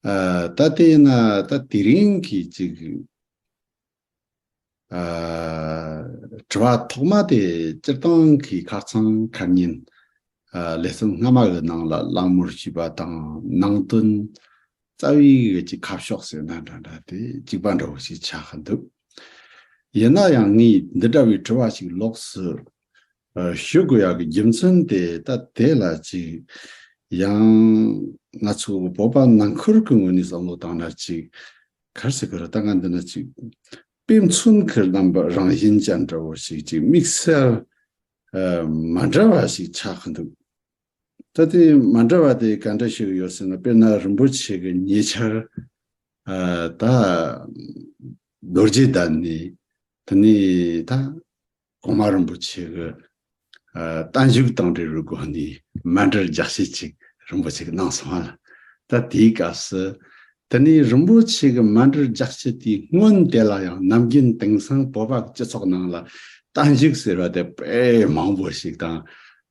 ད་ལྟས་ན་ད་དེ་རིང་གི་ཅིག་དྲི་བ་ཐོག་མ་དེ་སྤྱིར་བཏང་གི་ཁ་ཚང་ཁ་ཉིན་ལས་གསུམ་སྔ་མ་གི་ནང་ལ་གླང་མོར་བྱིས་པ་དང་ནང་དོན་རྩ་བའི་གི་ཅིག་ཁ་ཕྱོགས་ཟེར་ན་འདྲ་འདྲ་དེ་གཅིག་པ་འདྲ་བོ་ཞིག་ཆགས་ཀྱི་འདུག་ཡིན་ན་ཡང་ངས་འདི་འདྲ་བའི་དྲི་བ་ཞིག་ལོགས་སུ་ཞུ་དགོས་ཡག་གི་རྒྱུ་མཚན་དེ་ལྟ་དེ་ལ་ཅིག། ཡང། ང་ཚོ་བོད་པ་ནང་ཁུལ་གྱི་ངོས་ནས་བསམ་བློ་བཏང་ན་ཅིག། གར་སི་ཁུལ་ལྟ་ང་འདི་ན་ཅིག། དཔེ་མཚོན་ཁུལ་རྣམ་པ་རང་བཞིན་ཅན་འདྲ་བོ་ཞིག་ཅིག་དམིགས་བསལ་མ་འདྲ་བ་ཞིག་ཆགས་ཀྱི་འདུག་ད་དེ་མ་འདྲ་བ་དེ་ག་འདྲ་ཞིག་ཡོད་ཟེར་ན་དཔེར་ན་རིན་པོ་ཆེ་གི་ཉེ་ཆར་ད། རྡོ་རྗེ་བདག་ནི་དེ་ནས་ད། གོང་མ་རིན་པོ་ཆེ་གི་གཏམ་བཞུགས་དང་འབྲེལ་བའི་སྒོ་ནས་མན་འདྲེར་རྒྱག་བཤད་ཅིག་རིན་པོ་ཆེ་གིས་གནང་སོང་ལ། ད་དེའི་སྐབས་སུ། དེ་ནས་རིན་པོ་ཆེ་གི་མན་འདྲེར་རྒྱག་བཤད་དེའི་སྔོན་དེ་ལ་ཡང་ནམ་རྒྱུན་དེང་སང་བོད་པ་སྤྱི་ཚོགས་ནང་ལ་གཏམ་བཞུགས་ཟེར་བ་དེ་དཔེ་མང་པོ་ཞིག་དང།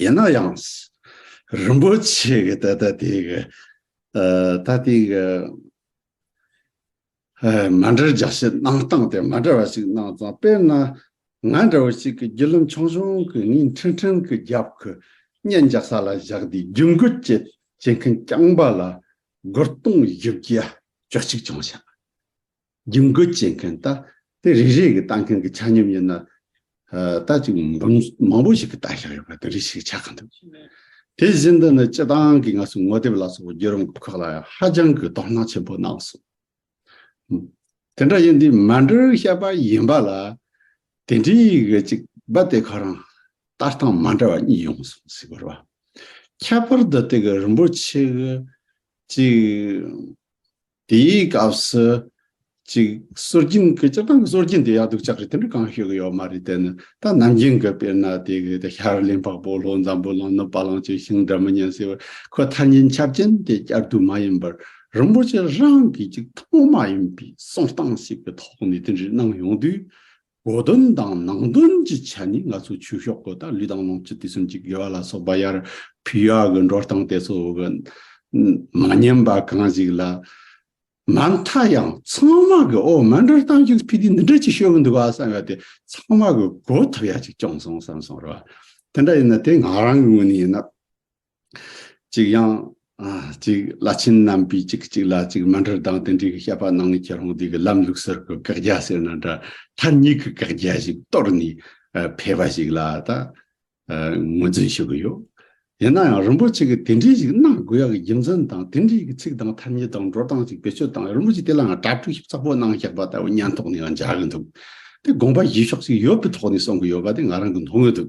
ཡིན་ན་ཡང། རིན་པོ་ཆེ་གི་ད་ལྟ་དེ་གི་ད་ལྟའི་གི་མ་འདྲ་རྒྱ་ཆེ་གནང་སྟངས་དེ་མ་འདྲ་བ་ཞིག་གནང་ཙང་དཔེར་ན། ང་འདྲ་བོ་ཞིག་གི་རྒྱུ་ལུམ་ཆུང་ཆུང་གི་ངན་ཁྲིན་ཁྲིན་གི་རྒྱབ་གི་སྙན་རྒྱག་ས་ལ་བཞག་དེ་རྒྱུ་འགུལ་བསྐྱེད་བྱེད་མཁན་རྐྱང་པ་ལ་སྒོར་སྟོང་བཞི་བརྒྱ་བཅུ་གཅིག་ཆང་བྱ། རྒྱུ་འགོད་བྱེད་མཁན་ལྟ་དེ་རེ་རེ་གིས་ལྟ་མཁན་གྱི་ཆ་སྙོམས་ཡིན་ན། ལྟ་ཅིག་མང་པོ་ཞིག་གིས་ལྟ་བཞག་ཡོད་པ་དེ་རེ་ཞིག་ཆ་གང་འདུག་དེ་བཞིན་དུ་ནི་སྤྱི་བཏང་གི་ངལ་གསོའི་ངོ་དེབ་ལ་སོགས་པའི་བརྒྱུད་རིམ་ཁག་ལ་ཡང་ཧ་ཅང་གི་དོ་སྣང་ཆེན་པོ་གནང་སོང། དེ་འདྲ་ཡིན་དུས་མ་འབྲི་ཤེས་པ་ཡིན་པ་ལ་དེ་འདྲའི་ཡིག་གཅིག་པ་དེ་ག་རང་ལྟ་སྟངས་མ་འདྲ་བ་གཉིས་ཡོང་སོང་ཟེར་བར། ཁྱད་པར་དུ་དེ་ག་རིན་པོ་ཆེ་གཅིག་དེའི་སྐབས་སུ། གཅིག་སྲོལ་རྒྱུན་གྱི་སྤྱིར་བཏང་གི་སྲོལ་རྒྱུན་དེ་ཡག་སྡུག་ཆགས་རེད་དེ་འདྲ་གང་ཞིག་གི་ཡོད་མ་རེད་དེ་ནི་ད་ནམ་རྒྱུན་གྱི་དཔེར་ན་དེ་གི་དེ་ཤར་གླིང་འཕགས་པོ་ལྷོ་འཛམ་བུ་གླིང་ནུབ་བ་གླིང་བཅས་ཤིང་འདྲ་མི་ཉན་ཟེར་བར་ཁོའི་ཐ་སྙད་འཆར་ཅན་དེ་བསྐྱར་བསྡུ་མ་ཡིན་པར་རིན་པོ་ཆེ་རང་གིས་ཀྱི་ཐོག་མ་ཡིན་པའི་གསུང་སྟངས་ཤིག་གི་ཐོག་ནས་དེ་འདྲའི་གནང་ཡོང་དུས། སྒོ་དོན་དང་ནང་དོན་གྱི་ཆ་ནས་ང་ཚོའི་ཆོས་ཕྱོགས་སྐོར་དང་ལུས་དང་ལོངས་སྤྱོད་དུས་གསུམ་གྱི་དགེ་བ་ལ་སོགས་པ་ཡར་ཕུལ་ཡག་གི་འགྲོ་སྟངས་དེ་ཚོ་གི་མ་ཉམས་པ་གང་ཞིག་ལ། མ་མཐའ་ཡང་ཚང་མ་གི་འོ་མ་འགྲོ་སྟངས་ཀྱང་ཕི་དེ་འདི་འདྲ་ཅིག་ཤོད་གི་འདུག་ག་བསམ་ཡོད་དེ་ཚང་མ་གི་གོ་ཐུབ་ཡག་ཅིག་བསྐྱོངས་སོང་བསམ་སོང་རེད་བ། དེ་འདྲ་ཡིན་ན་དེ་ང་རང་གི་ངོས་ནས་ཡིན་ན། གཅིག་ཡང། གཅིག་བླ་ཆེན་རྣམ་པའི་གཅིག་གི་གཅིག་ལ་གཅིག་མ་འདྲེར་ལྡང་སྟེ་འདྲེ་གི་བཤད་པ་གནང་ནས་ཁྱེད་རང་འདི་གི་ལམ་ལུགས་གསར་གི་བཀག་རྒྱ་ཟེར་ན་འདྲ་ཐ་སྙད་གི་བཀག་རྒྱ་ཞིག་གཏོར་ནས་ཕེབས་པ་ཞིག་ལ་ད་ངོས་འཛིན་ཞུ་གི་ཡོད། ཡིན་ན་ཡང་རིན་པོ་ཆེ་གིས་དེ་འདྲའི་ཞིག་གནང་དགོས་ཡག་གི་རྒྱུ་མཚན་དང་དེ་འདྲའི་གི་ཚིག་དང་ཐ་སྙད་དང་འགྲོ་སྟངས་ཞིག་བེད་སྤྱོད་དང་རིན་པོ་ཆེ་དེ་ལའང་གྲྭ་གྲུག་ཞིབ་ཚགས་པོ་གནང་བཞག་པ་ལྟ་བུ་སྙན་ཐོག་ནས་ཡང་འཇགས་གི་འདུག་དེ་དགོངས་པ་བཞེས་ཕྱོགས་ཞིག་ཡོད་པའི་ཐོག་ནས་གསུང་གི་ཡོད་པ་དེ་ང་རང་གི་མཐོང་གི་འདུག་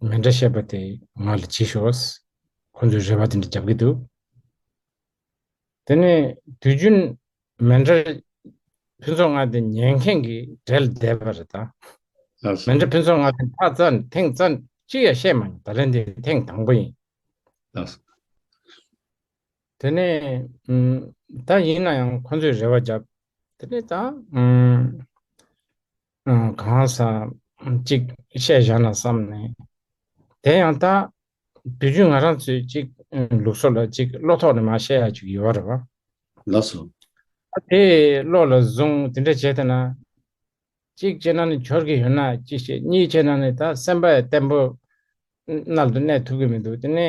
ང་འདྲ་བཤད་པ་དེ་ང་ལ་གྱིས་ཤོག་ཨོས། ཁོ་ཚོས་རེ་བ་དེ་འདྲ་རྒྱབ་ཀྱི་འདུག་དེ་ནས་དུས་རྒྱུན་མེ་འདྲ་ཕུན་ཚོགས་ང་དེ་ཉན་མཁན་གྱི་གྲལ་བསྡད་པ་རེད་ད། ལགས་མེ་སོ། འདྲ་ཕུན་ཚོགས་ང་དེ་ད་རྩ་ཐེངས་རྩ་གཅིག་ཡ་བཤད་མ་མྱོང་ད་ལན་དེ་ཐེངས་དང་པོ་ཡིན། ལགས་སོ། དེ་ནས་ད་ཡིན་ན་ཡང་ཁོ་ཚོས་རེ་བ་རྒྱབ་དེ་ནས་ད། གང་ཟག་ཅིག་ཤེས་བཞག་ན་བསམས་ནས། དེ་ཡང་ད་དུས་རྒྱུས་ང་རང་ཚོས་ཅིག་ལུགས་སྲོལ་ལ་ཅིག་བློ་ཐོག་ནས་མ་བཤད་ཡ་ཅིག་ཡོད་རེད་བ། ལགས་སོ། ད་དེ་བློ་ལ་བཟུང་དེ་འདྲ་བྱས་ཐ་ན། ཅིག་བྱས་ན་ནི་འཆོར་གི་ཡོད་ན་ཅིག་བྱས་གཉིས་བྱས་ན་ནི་ད་སེམས་པ་བརྟན་པོ་རྣལ་དུ་གནས་ཐུབ་གི་མི་འདུག་དེ་ནི།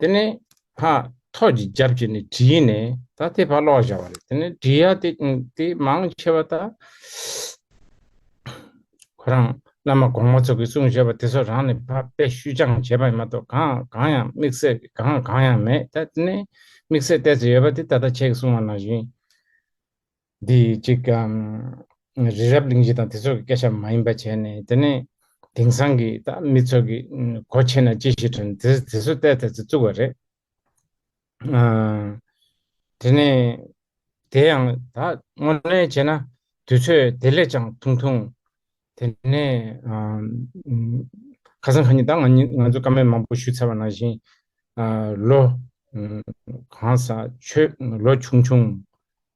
དེ་ནས་ཕ་ཐོགས་ཀྱི་རྒྱབ་ཀྱི་ནས་བྲིས་ནས་ད་དེ་ཕ་ལོག་བཞག་པ་རེད་དེ་ནས་བྲིས་ཡ་དེ་དེ་མང་ཆེ་བ་ད་ཁོ་རང་བླ་མ་གོང་མ་ཚོ་གི་གསུང་བཞེས་པ་དེ་ཚོ་རང་ནས་ཕ་དཔེ་བཤུས་སྦྱངས་བྱས་པ་ཡིན་མ་གཏོགས་གང་གང་ཡང་དམིགས་བསལ་གི་གང་གང་ཡང་མེད་ད་དེ་ནས་དམིགས་བསལ་གཏད་ཚོད་ཡོད་པ་དེ་ད་ད་ཁྱེད་ཀྱི་གསུང་བ་ནང་བཞིན། འདི་གཅིག། རི་རབ་གླིང་བཞི་དང་དེ་ཚོ་གི་སྐད་ཆ་མ་ཡིན་པ་བྱས་ནས་དེ་ནས་དེང་སང་གི་ད་མི་ཚོ་གི་གོ་ཕྱེ་ན་ཅི་ཞིག་དྲན་དེ་དེ་ཚོ་བལྟས་ཐེ་ཚོ་བཙུགས་པ་རེད། དེ་ནས་དེ་ཡང་ད་དངོས་གནས་བྱས་ན་དུས་ཚོད་དེ་ལས་ཀྱང་ཐུང་ཐུང། དེ་ནས་ཁ་སང་ཁ་ཉིན་ད་ང་ང་ཚོ་ཀ་མེད་མང་པོ་ཞུས་ཚར་བ་ནང་བཞིན་ལོ་གང་ས་ཆོད་ལོ་ཆུང་ཆུང།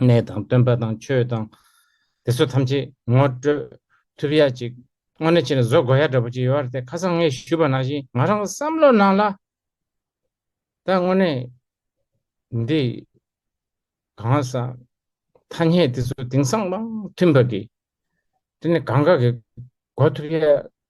གནས་དང་སྟོན་པ་དང་ཆོས་དང། དེ་ཚོ་ཐམས་ཅད་ངོ་སྤྲོད་ཐུབ་ཡ་ཅིག་དངོས་གནས་ཕྱི་ནས་བཟོ་དགོས་ཡ་འདྲ་པོ་ཅིག་ཡོད་ར་ཏེ་ཁ་སང་ངས་ཞུས་པ་ནང་བཞིན་ང་རང་གི་བསམ་བློ་ནང་ལ་ད་དངོས་གནས་འདི་གང་ཟག་ཐ་སྙད་དེ་ཚོ་དེང་སང་མང་མཐུན་པ་གི་དེ་ནི་གང་ག་གི་གོ་ཐུབ་ཡ་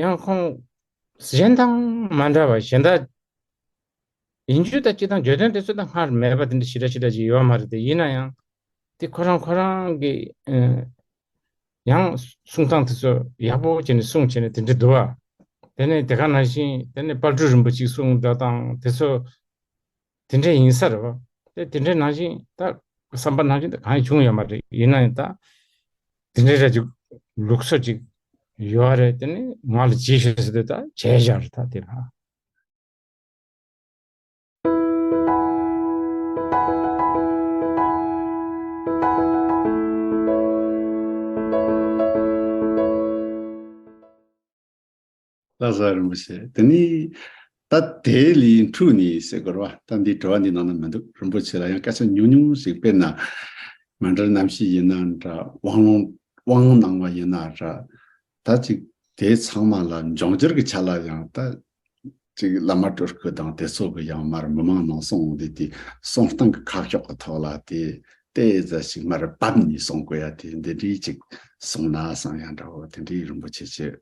ཡང་ཁོང་གཞན་དང་མ་འདྲ་བར་གཞན་དག་ཡིན་རྒྱུ་དང་སྤྱི་དང་བརྗོད་དོན་དེ་ཚོ་དང་སྔར་མེད་པ་དེ་འདྲ་ཞི་དྲག་ཞི་དྲག་ཅིག་ཡོད་མ་རེད་དེ་ཡིན་ན་ཡང་དེ་ཁོ་རང་ཁོ་རང་གི་ཡང་གསུང་སྟངས་དེ་ཚོ་ཡག་པོ་བྱས་ནས་གསུང་བྱས་ནས་དེ་འདྲ་འདུག་ཨ། དེ་ནས་དེ་ག་ནང་བཞིན་དེ་ནས་དཔར་སྐྲུན་རིན་པོ་ཆེ་གསུང་སྒྲ་དང་དེ་ཚོ་དེ་འདྲའི་ཡིན་ས་རེད། དེ་དེ་འདྲའི་ནང་བཞིན་ད། བསམ་པ་ནང་བཞིན་ད་གང་ཡང་བྱུང་ཡོད་མ་རེད། ཡིན་ན་ཡང་ད། དེ་འདྲའི་རེད་ཅིག། ལུགས་སྲོལ་ཅིག། ཡོད་རེད་དེ་ནི་ང་ལ་ཇི་ཞིག་ཟེར་དུས་ད་བྱས་བཞག་རེད་ད་དེ་ལ། ལྷ་ས་རིན་པོ་ཆེ་དེ་ནི། ད་དེའི་ལི་ཡིན་ཕྲུག་ནི་ཞེས་སྐོར་བ་ད་འདིའི་དྲི་བ་འདིའི་ནང་ན་མི་འདུག་རིན་པོ་ཆེ་ལ་ཡང་སྐད་ཆ་ཉུང་ཉུང་ཞིག་སྤེལ་ན། ང་འདྲར་རྣམ་ཤེས་ཡིན་ན་འདྲ་དབང་ལུང་དབང་གནང་བ་ཡིན་ན་འདྲ། ད་ཅིག་དེ་ཚང་མ་ལ་འབྱུང་འགྱུར་གྱི་ཆ་ལ་ཡང་ད་ཅིག་བླ་མ་སྤྲུལ་སྐུ་དང་དེ་ཚོ་གི་ཡང་མར་མི་མང་ནང་སོང་དེ་དེ་སོང་སྟངས་ཀྱི་ཁ་ཕྱོགས་ཀྱི་ཐོག་ལ་དེ་ལྟའི་རྫ་ཞིག་མར་བབས་ནས་སོང་དགོས་ཡ་དེ་འདི་འདྲའི་ཅིག་སོང་ན་སང་ཡང་འདྲ་བོ་དེ་འདྲའི་རིན་པོ་ཆེ་ཆེ།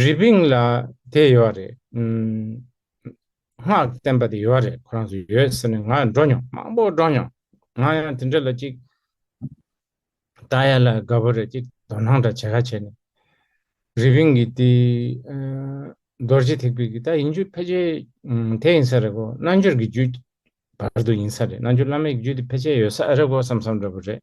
རི་པིང་ལ་དེ་ཡོད་རེད། སྔགས་བསྟན་པ་དེ་ཡོད་རེད་ཁོ་རང་ཚོ་ཡོད་ཟེར་ནས་ང་འགྲོ་མྱོང་མང་པོ་འགྲོ་མྱོང། ང་ཡང་དེ་འདྲ་ལ་ཅིག་ལྟ་ཡ་ལ་དགའ་པོ་རེད་ཅིག་དོ་སྣང་འདྲ་བྱེད་ཁ་བྱས་ནས། རི་པིང་གི་དེ་རྡོ་རྗེ་ཐེག་པའི་གི་ད་ཡིན་རྒྱུ་ཕལ་ཆེར་དེ་ཡིན་ས་རེད་གོ་རྣལ་འབྱོར་གྱི་རྒྱུད་བར་དུ་ཡིན་ས་རེད་རྣལ་འབྱོར་བླ་མེད་ཀྱི་རྒྱུད་དེ་ཕལ་ཆེར་ཡོད་ས་རེད་གོ་བསམ་བསམ་འདྲ་པོ་རེད།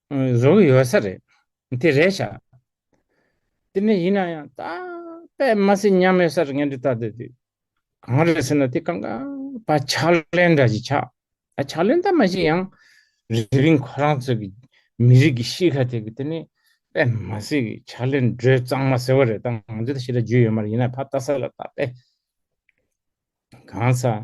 བཟོ་གི་ཡོད་ས་རེད། དེ་རེད་བྱ། དེ་འདྲ་ཡིན་ན་ཡང་ད་པད་མ་སི་མཉམ་མེད་སར་ངན་འབྲི་ད་དེ་དུས་གང་རེད་ཟེར་ན་དེ་གང་ག་པ་ཕྱག་ལེན་འདྲ་ཞིག་ཆགས། ཨ་ཕྱག་ལེན་ད་མ་ཞིག་ཡང་རི་པིན་ཁོ་རང་ཚོ་གི་མི་རིགས་ཀྱི་ཤི་ཁ་དེ་གི་དེ་ནི་པད་མ་སི་གི་ཕྱག་ལེན་སྒྲོས་གཙང་མ་ཟེར་བ་རེད་ད་ང་ཚོ་ད་ཤི་ད་རྒྱུས་ཡོད་མ་རེད་ཡིན་ན་ཕ་བལྟ་ས་ལ་ད་པད་གང་ས།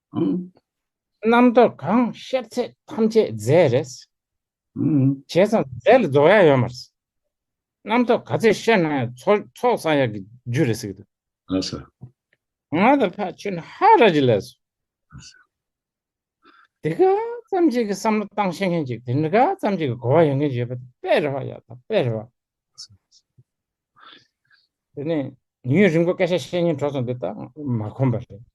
རྣམ་རྟོག་གང་ཤེས་ཚད་ཐམས་ཅད་རྫས་རེད། བྱས་ཙང་རྫས་ལ་རྫོགས་ཡ་ཡོད་མ་རེད། རྣམ་རྟོག་ག་ཚད་ཤེས་ན་ཡང་ཚོགས་བསགས་ཡ་གི་རྒྱུ་རེད་ཟེར་གི་འདུག། ང་དང་ཕ་ཆོས་ནི་ཧ་ར་ཅི་ལས་སོ། དེ་ག་ཙམ་ཅིག་གི་བསམ་བློ་བཏང་ཤེས་མཁན་ཅིག་དེ་ག་ཙམ་ཅིག་གི་གོ་བ་ཡོད་མཁན་ཅིག་ཡོད་པ་དེ་དཔེ་རེད་བ་ཡ་དང་དཔེ་རེད་བ། དེ་ནས་ཡུན་རིང་པོ་སྐད་ཆ་བཤད་ཉིན་གྲོགས་ཚོ་འདི་ད་མ་ཁོམ་པ་རེད།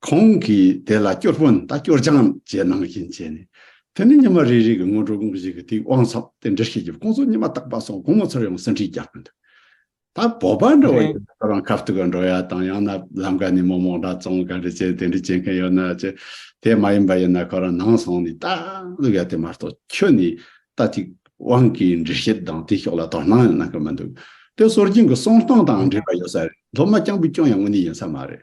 ཁོང་གིས་དེ་ལ་སྐྱོར་དཔོན་དང་སྐྱོར་སྦྱངས་བཅས་ནང་བཞིན་བྱས་ནས། དེ་ནས་ཉི་མ་རེ་རེ་གི་སྔོན་འགྲོ་དངོས་གཞི་གི་དེའི་དབང་ཚབ་དེ་འདྲི་ཤེས་ཀྱི་བསྐོང་ཚོགས་ཉི་མ་བརྟག་པ་སོགས་དགོང་མོ་ཚར་ཡོང་ཟིན་བྲིས་རྒྱག་གི་འདུག་ད་བོད་པ་འདྲ་བ་ཡིན་ན་ཁོ་རང་ཁ་བཏུད་ག་འགྲོ་ཡ་དང་ཡང་ན་ལམ་ཀ་ནས་མོ་མོག་འདྲ་བཙོང་ག་རེ་བྱེད་དེ་འདྲི་བྱེད་མཁན་ཡོད་ན་བྱེད། དེ་མ་ཡིན་པ་ཡིན་ན་ཁོ་རང་ནང་སོང་ནས་ལྟ་ལུགས་ཡ་དེ་མ་གཏོགས་ཁྱོད་ནི་ལྟ་ཅིག་དབང་གིས་འདྲི་བཤད་དང་དེའི་ཕྱོགས་ལ་དོ་སྣང་ཡང་གནང་གི་མི་འདུག་དེ་སོར་རྒྱུན་གྱི་གསོང་སྟངས་དང་འབྲེལ་བ་ཡོད་ས་རེད་མདོ་སྨད་རྐྱང་པའི་སྐྱོན་ཡང་དངོས་གནས་ཡིན་ས་མ་རེད་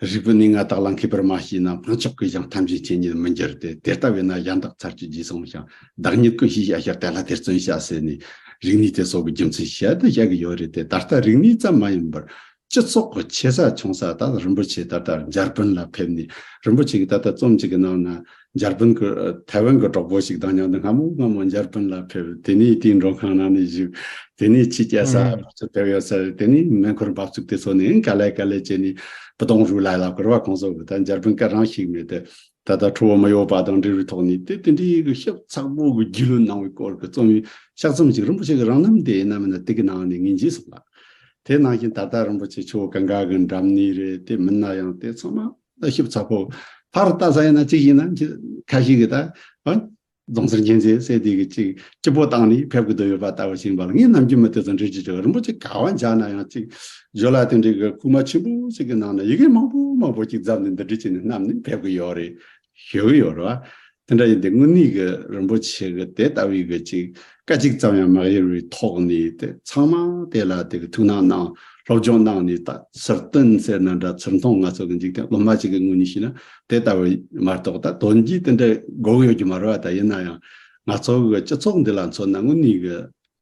རིགས་པས་ནི་ང་དག་ལ་མཁས་པར་མ་བྱས་ན་དཔང་ཆགས་ཀྱིས་ཀྱང་ཐམས་ཅད་མཁྱེན་ཉིད་མི་འགྱུར་ཏེ་དེ་ལྟ་བས་ན་གཞན་དག་ཚར་གཅོད་རྗེས་བཟུང་ཞིང་བདག་ཉིད་ཀུན་ཤེས་བྱ་ཞེས་བཀའ་ལ་དེར་བརྩོན་བྱ་ཟེར་ནས་རིག་ནུས་དེ་སོགས་ཀྱི་རྒྱུ་མཚན་ཞལ་དུ་བཞག་གི་ཡོད་རེད་དེ་ད་ལྟ་རིག་ནུས་ཙམ་མ་ཡིན་པར་སྤྱི་ཚོགས་ཀྱི་ཆེ་ས་ཆུང་ས་དག་ལ་རིན་པོ་ཆེ་ད་ལྟ་འཇར་པན་ལ་ཕེབས་ནས་རིན་པོ་ཆེ་གིས་ད་ལྟ་རྩོམ་གཅིག་གི་ནང་ན་འཇར་པན་གྱི་ཐའེ་ཝན་གྱི་གྲོགས་པོ་ཞིག་དང་མཉམ་དུ་སྔ་མོ་སྔ་མོ་འཇར་པན་ལ་ཕེབས་དེ་ནས་དེའི་མགྲོན་ཁང་ནང་ནས་བཞུགས། དེ་ནས་ཕྱིས་རྒྱལ་ས་ཕར་ཚུར་ཕེབས་ཡོད་ཚད་དེ་ནས་མེ་འཁོར་འབབ་ཚུགས་དེ་ཚོ་ནས་ག་ལེ་ག་ལེ་བྱས་ནས་བུ་དང་རུས་ལ་ལ་བསྐུར་བ་གང་སོགས་ཀྱི་ད་འཇར་པན་སྐད་རང་ཞིག་མེད་དེ། ད་ལྟ་ཁྲོ་བོ་མི་གཡོ་བ་དང་འབྲེལ་བའི་ཐོག་ནས་དེ་དེ་འདྲའི་གི་ཤབ་ཚགས་པོ་གི་རྒྱུས་ལོན་གནང་བའི་སྐོར་གྱི་རྩོམ་ཡིག་ཤག་ཙམ་ཞིག་རིན་པོ་ཆེ་གི་རང་རྣམ་དེ་ན་མི་ན་ཏིག་གི་ནང་ནས་ངས་འབྱིན་སོང་ལ། དེ་ནང་བཞིན་ད་ལྟ་རིན་པོ་ཆེ་ཆོས་གང་ག་གི་འགྲམ་ནས་རེད་དེ་མིན་ན་ཡང་དེ་ཚང་མ། ལྟ་ཞིབ་ཚགས་པོ་ཕར་བལྟ་ས་ཡིན་ན་གཅིག་ཡིན་ན་གཅིག་ཁ་ཞིག་གིས་ད། རྫོང་སར་མཁྱེན་བརྩེའི་སྲས་དེ་གིས་ཅིག་སྤྱི་བོ་བཏང་ནས་ཕེབས་དགོས་དོན་ཡོད་པ་ལྟ་བུ་ཞིག་འབར་ངས་ནམ་རྒྱུན་མི་དེ་ཚོ་འདྲི་རྒྱུ་བྱུང་རིན་པོ་ཆེ་ག་བ་འཇགས་ན་ཡང་ཅིག་བཞོ་ལ་དེ་འདྲའི་གི་རྐུ་མ་ཆེན་པོ་ཞིག་གི་ནང་ན་ཡི་གེ་མང་པོ་མང་པོ་ཅིག་བརྫབས་ནས་འདི་འདྲི་བྱས་ནས་བསྣམས་ནས་ཕེབས་གི་ཡོད་རེད་ཞུ་གི་ཡོད་རེད་བ། དེ་འདྲ་ཡིན་ཏེ་དངོས་གནས་ཀྱི་རིན་པོ་ཆེ་གི་དེ་ལྟ་བུའི་གྱི་ཅིག་སྐད་གཅིག་ཙམ་ཡང་མ་གཡེལ་བའི་ཐོག་ནས་དེ་ཚང་མ་དེ་ལ་དེ་གི་ཐུགས་སྣང་གནང་སློབ་སྦྱོང་གནང་ནས་ད་ཕྱིར་སྟོན་ཟེར་ན་འདྲ་ཚུར་མཐོང་ང་ཚོ་གི་འཇིག་རྟེན་སློབ་མ་གཅིག་གི་ངོས་ནས་བྱས་ན་དེ་ལྟ་བུ་མ་གཏོགས་ད་དོན་གྱིས་དེ་འདྲའི་དགོས་ཡོད་ཀྱི་མ་རེད་བ་ད་ཡིན་ན་ཡང་ང་ཚོ་གི་སྤྱི་ཚོགས་འདི་ལ་མཚོན་ན་དངོས་གནས་ཀྱི་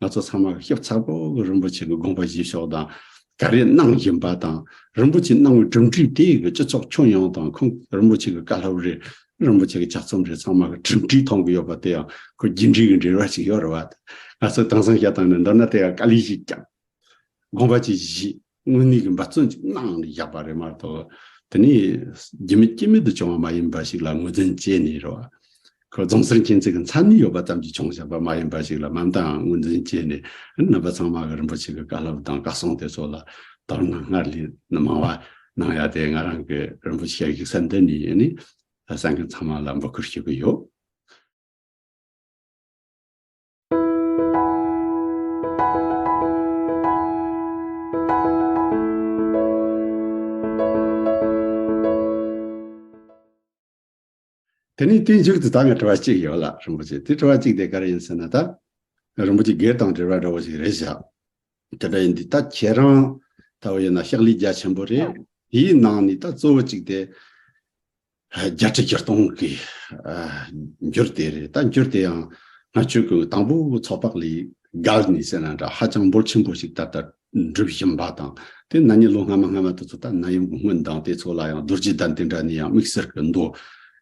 ང་ཚོ་ཚང་མ་ཤེས་ཚར་གོ་གི་རིན་པོ་ཆེ་གི་དགོངས་པ་བཞེས་ཤོག་དང། ག་རེ་གནང་བཞིན་པ་དང་རིན་པོ་ཆེ་གནང་བའི་གྲུབ་འབྲས་དེ་གི་སྤྱི་ཚོགས་ཁྱོན་ཡོངས་དང་ཁོང་རིན་པོ་ཆེ་གི་བཀའ་སློབ་རེད་རིན་པོ་ཆེ་གི་ལྗགས་རྩོམ་རེད་ཚང་མ་གི་གྲུབ་འབྲས་མཐོང་གི་ཡོད་པ་དེ་ཡང་ཁོ་རྒྱུད་འབྲས་གི་འབྲེལ་བ་ཞིག་ཡོད་རེད་བ་དང། ང་ཚོ་དྭངས་སང་ཞལ་དང་ནས་འདོར་ན་དེ་ཡང་བཀའ་ལས་གཞིག་ཀྱང་དགོངས་པ་ཅིག་བཞེས། དངོས་གནས་ཀྱི་འབད་བརྩོན་ཅིག་གནང་ནས་བཞག་པ་རེད་མ་གཏོགས་དེ་ནི་རྒྱུ་མེད་རྐྱེན་མེད་དུ་བྱུང་བ་མ་ཡིན་པ་ཞིག་ལ་ངོས་འཛིན་བྱས་ནས་རོ། ཁོ་རྫོང་སར་མཁྱེན་བརྩེ་གི་མཚན་ནི་ཡོད་པ་ཙམ་གྱིས་བྱུང་བཞག་པ་མ་ཡིན་པ་ཞིག་ལ་མ་མཐའང་ངོས་འཛིན་བྱས་ནས་རྣམ་པ་ཚང་མ་གི་རིན་པོ་ཆེ་གི་བཀའ་སློབ་དང་བཀའ་གསུང་དེ་ཚོ་ལ་དོ་སྣང་སྔར་ལས་མང་བ་གནང་ཡ་དེ་ང་རང་གི་རིན་པོ་ཆེ་ཡིག་ཚང་འདི་ནས་ནི་སེང་གེ་ཚང་མ་ལ་འབུལ་ཁུར་ཞུ་གི་ཡོད། དེ་ནས་དེའི་མཇུག་ཏུ་ད་ང་དྲི་བ་གཅིག་ཡོད་ལ་རིན་པོ་ཆེ་དེ་དྲི་བ་གཅིག་དེ་ག་རེ་ཡིན་ཟེར་ན་ད་རིན་པོ་ཆེ་སྒེར་དང་འབྲེལ་བ་འདྲ་བོ་ཞིག་རེད་བཞག་དེ་འདྲ་ཡིན་དུས་ད་ཁྱེད་རང་ལྟ་བུ་ཡོད་ན་ཤག་ལས་རྒྱ་ཆེན་པོ་རེད་དེའི་ནང་ནས་ད་གཙོ་བོ་གཅིག་དེ་བརྒྱ་ཁྲི་བརྒྱ་སྟོང་གི་འགྱུར་དེ་རེད་ད་འགྱུར་དེ་ཡང་ང་ཆོས་ཀྱི་དང་པོ་ཚོགས་པ་ལས་བརྒལ་ནས་ཟེར་ན་འདྲ་ཧ་ཅང་འབོར་ཆེན་པོ་ཞིག་ད་ལྟ་འགྲུབ་བཞིན་པ་དང་དེ་ན་ནས་ལོ་སྔ་མ་སྔ་མ་དེ་ཚོ་ད་ན་ཡང་དགོངས་དགོན་བདག་དེ་ཚོ་ལ་ཡང་རྡོ་རྗེ་གདན་དེ་འདྲ་ནས་ཡང་དམིགས་བསལ་གྱི་འདུ་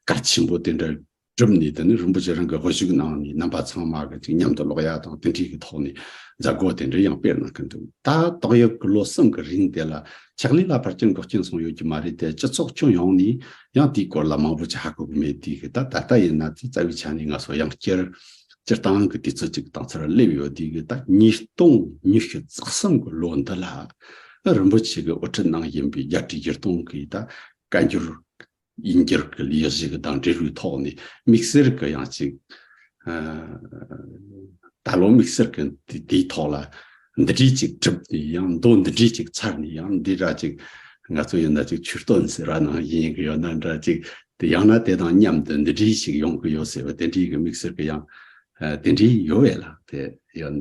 ཁ་ཆེན་པོ་དེ་འདྲ་གྲུབ་ནས་དེ་ནི་རིན་པོ་ཆེ་རང་གི་དབུ་བཞུགས་གནང་ནས་རྣམ་པ་ཚང་མ་གཅིག་མཉམ་དུ་ཀློག་ཡ་དང་བསྟུན་འཁྲིད་ཀྱི་ཐོག་ནས་མཛད་སྒོ་དེ་འདྲ་ཡང་སྤེལ་གནང་གི་འདུག་ད་ཏོག་ཡབ་དགུ་ལོ་གསུམ་གྱི་རིང་དེ་ལ་ཕྱག་ལས་ལ་ཕར་སྐྱོན་འགོག་རྐྱེན་སོང་ཡོད་ཀྱི་མ་རེད་དེ་སྤྱི་ཚོགས་ཁྱོན་ཡོངས་ནས་ཡང་དེའི་སྐོར་ལ་མང་པོ་ཅི་ཧ་གོ་གི་མེད་དུས་ད་ད་ལྟ་ཡིན་ན་དེ་རྩ་བའི་ཆ་ནས་ང་ཚོ་ཡང་སྤྱིར་སྤྱིར་བཏང་གི་དུས་ཚོད་ཅིག་དང་ཚུར་སླེབས་ཡོད་དུས་ཀྱི་ད་ཉིས་སྟོང་ཉི་ཤུ་རྩ་གསུམ་གྱི་ལོ་འདི་ལ་རིན་པོ་ཆེ་གི་དབུ་ཁྲིད་ནང་ཡིན་པའི་རྒྱ་ཁྲི་བཞི་སྟོང་གིས་ད་བཀའ་འགྱུར་དབྱིན་སྐད་ཀྱི་ལས་གཞི་གི་དང་འབྲེལ་བའི་ཐོག་ནས་དམིགས་བསལ་གྱི་ཡང་ཅིག། ད་ལོ་དམིགས་བསལ་གྱི་དེའི་ཐོག་ལ་འདི་གྲས་ཅིག་གྲུབ་སྟེ་ཡང་མདོ་འདི་གྲས་ཅིག་ཚར་ནས་ཡང་འདི་འདྲ་ཅིག་ང་ཚོ་ཡང་འདྲ་ཅིག་ཆུ་སྟོད་ཟེར་བ་ནང་ཡིན་གྱི་ཡོད་ན་འདྲ་ཅིག་དེ་ཡང་ན་དེ་དང་མཉམ་དུ་འདི་གྲས་ཤིག་ཡོང་གི་ཡོད་ཟེར་བ་དེ་འདྲའི་གི་དམིགས་བསལ་གྱི་ཡང་དེ་འདྲའི་ཡོད་བས་ལ་དེ་ཡང།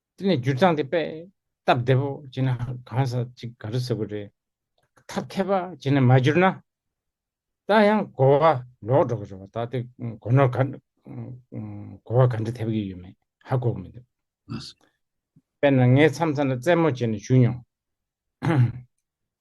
དེ་ནས་འགྱུར་སྟངས་དེ་པདྨ་བདེ་པོ་བྱས་ན་གང་ཟག་གཅིག་ག་རེ་ཟེར་དགོས་རེད། ཐབས་མཁས་པ་བྱས་ན་མ་འགྱུར་ན། ད་ཡང་གོ་བ་ལོག་འགྲོ་གི་རེད་བ་ད་དེ་གོ་ནོར་ག་གོ་བ་ག་འདྲ་ཐེབས་ཀྱི་ཡོད་མེད་ཧ་གོ་གི་མི་འདུག་དཔེར་ན་ངའི་མཚམས་མཚམས་ལ་རྩེད་མོ་བྱས་ནས་བཞུགས་མྱོང།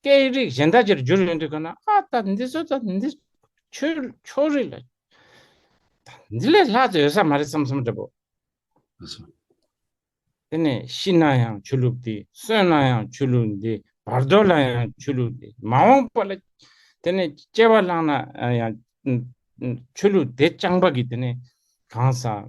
སྐད་ཡིག་རིགས་གཞན་དག་ཅིར་འགྱུར་ཡོང་དུས་གང་ན་ཨ་ད་འདི་ཚོ་ད་འདི་ཆོས་ཕྱོགས་རིས་ལ་ད་འདི་ལས་ལྷག་ཅིག་ཡོད་ས་མ་རེད་བསམ་བསམ་འདྲ་པོ། ཨ་ཚོ། དེ་ནས་ཤི་ན་ཡང་ཆོས་ལུགས་འདི་གསོན་ན་ཡང་ཆོས་ལུགས་འདི་བར་དོ་ལ་ཡང་ཆོས་ལུགས་འདི་མ་འོངས་པ་ལ་དེ་ནས་སྐྱེ་བ་བླངས་ན་ཡང་ཆོས་ལུགས་དེ་རྐྱང་པ་གིས་དེ་ནས་གང་ཟག་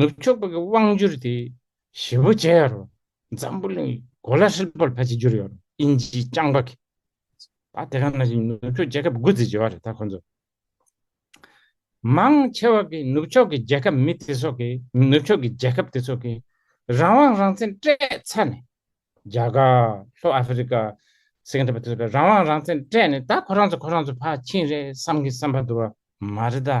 ནུབ་ཕྱོགས་ཀྱི་དབང་བསྒྱུར་དེ་ཞི་བོ་ཇའི་རོ། འཛམ་བུ་གླིང་གི་གོ་ལ་ཧྲིལ་པོར་ཕལ་ཆེར་བསྒྱུར་ཡོད་རུང་དབྱིན་ཇིའི་རྐྱང་པ་གིས་ད་དེ་ག་ནང་བཞིན་ནུབ་ཕྱོགས་རྒྱལ་ཁབ་དགུ་བརྩིས་ཡོད་རེད་ད་ཁོང་ཚོས། མང་ཆེ་བ་གིས་ནུབ་ཕྱོགས་ཀྱི་རྒྱལ་ཁབ་མི་དེ་ཚོ་གིས་ནུབ་ཕྱོགས་ཀྱི་རྒྱལ་ཁབ་དེ་ཚོ་གིས་རང་དབང་རང་བཙན་སྤྲད་ཚར་ནས། རྒྱ་གར། ལྷོ་ཨ་ཧྥི་རི་ཀ། སིང་གྷ་པུར་དེ་ཚོ་གིས་རང་དབང་རང་བཙན་སྤྲད་ནས་ད་ཁོ་རང་ཚོ་ཁོ་རང་ཚོ་ཕར་ཕྱིན་རེད་བསམ་གི་བསམ་པ་འདུག་བ་མ་རེད་ད།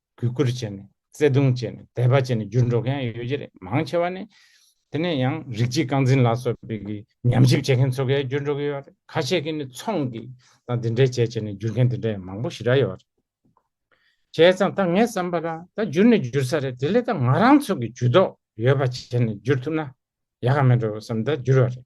གུས་བཀུར་བྱས་ནས་བརྩེ་གདུང་བྱས་ནས་དད་པ་བྱས་ནས་བསྒྱུར་འགྲོ་མཁན་ཡང་ཡོད་ཀྱི་རེད་མང་ཆེ་བ་ནི། དེ་ནས་ཡང་རིགས་གཅིག་རྐང་འཛིན་ལ་སོགས་པའི་གི་ཉམས་ཞིབ་བྱེད་མཁན་ཚོ་གས་བསྒྱུར་འགྲོ་གི་ཡོད་རེད་ཁ་ཤས་ཀྱིས་ནི་ཚོང་གི་དང་དེ་འདྲའི་བྱས་བྱས་ནས་བསྒྱུར་མཁན་དེ་འདྲ་ཡང་མང་པོ་ཞིག་ར་ཡོད་རེད། བྱས་ཙང་ད་ངས་བསམ་པ་ལ་ད་བསྒྱུར་ནི་བསྒྱུར་ས་རེད་དེ་ལས་ད་ང་རང་ཚོ་གི་ཇུས་གཏོགས་ཡོད་པ་བྱས་ནས་བསྒྱུར་ཐུབ་ན་ཡག་ག་མེད་འགྲོ་བསམ་ད་བསྒྱུར་བ་རེད།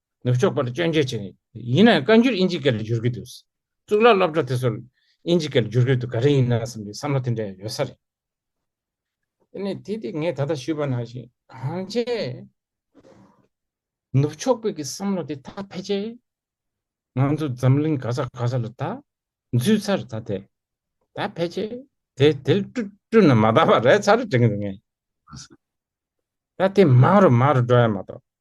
ནུབ་ཕྱོགས་པར་སྐྱོན་བརྗོད་བྱེད་ངེས། ཡིན་ནའང་བཀའ་འགྱུར་ཨིན་ཇི་སྐད་ལ་བསྒྱུར་གྱི་འདུག། གཙུག་ལག་སློབ་གྲྭ་དེ་ཚོར་ཨིན་ཇི་སྐད་ལ་བསྒྱུར་དགོས་དུ་ག་རེ་ཡིན་ནམ་བསམ་པའི་བསམ་བློ་དེ་འདྲ་ཡང་ཡོད་ས་རེད། དེ་ནས་དེ་དེ་ངས་ད་ལྟ་ཞུས་པ་ནང་བཞིན་གང་བྱས། ནུབ་ཕྱོགས་པའི་གི་བསམ་བློ་དེ་དག་ཕལ་ཆེར། ང་ཚོ་འཛམ་གླིང་ག་ས་ག་ས་ལ་ད་འཛུལ་ཚར་ད་དེ་ད་ཕལ་ཆེར་དེ་དེར་བསྐྲུན་ན་མ་ད་པ་རེད་ཚར་དྲན་གྱི་འདུག་ངས། ད་དེ་མང་རུ་མང་རུ་འགྲོ་ཡ་མ་གཏོགས།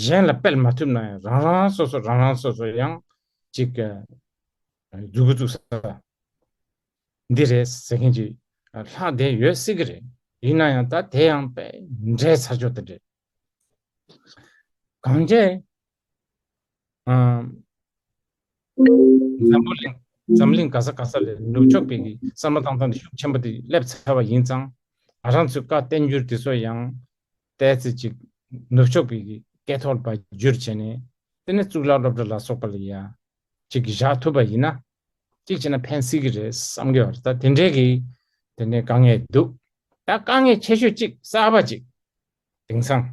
གཞན་ལ་སྤེལ་མ་ཐུབ་ན་ཡང་རང་རང་སོ་སོ་རང་རང་སོ་སོ་ཡང་ཅིག་འཛུགས་འཛུགས་ས་འདི་རེད་ཟེར་མཁན་ཅིག་ལྷག་བསྡད་ཡོད་སྲིད་ཀྱི་རེད་ཡིན་ན་ཡང་ད་དེ་ཡང་དཔེ་འདྲའི་ཚར་ཆོག་དེ་རེད་གང་རྒྱས་འཛམ་བུ་གླིང་འཛམ་གླིང་ག་ས་ག་ས་ལས་ནུབ་ཕྱོགས་པའི་གསར་མ་ཏང་ཙང་ནས་ཤུགས་ཆེན་པོ་དེ་སླེབས་ཚར་བ་ཡིན་ཙང། རང་ཚོའི་བཀའ་བསྟན་འགྱུར་དེ་ཚོ་ཡང་བལྟས་ཚེ་ཅིག་ནུབ་ཕྱོགས་པའི་སྐད་ཐོག་ལ་བ་སྒྱུར་བྱས་ནས་དེ་ནས་གཙུག་ལག་སློབ་གྲྭ་ལ་སོགས་པ་ལ་ཡང་ཅིག་བཞག་ཐུབ་པ་ཡིན་ན་ཅིག་བྱས་ན་ཕན་སྲིད་ཀྱི་རེད་བསམ་གི་བར་ད་དེ་འདྲའི་གི་དེ་ནས་དཀའ་ངལ་འདུག་ད་དཀའ་ངལ་ཆེ་ཤོས་ཅིག་གསར་པ་ཅིག་དེང་སང།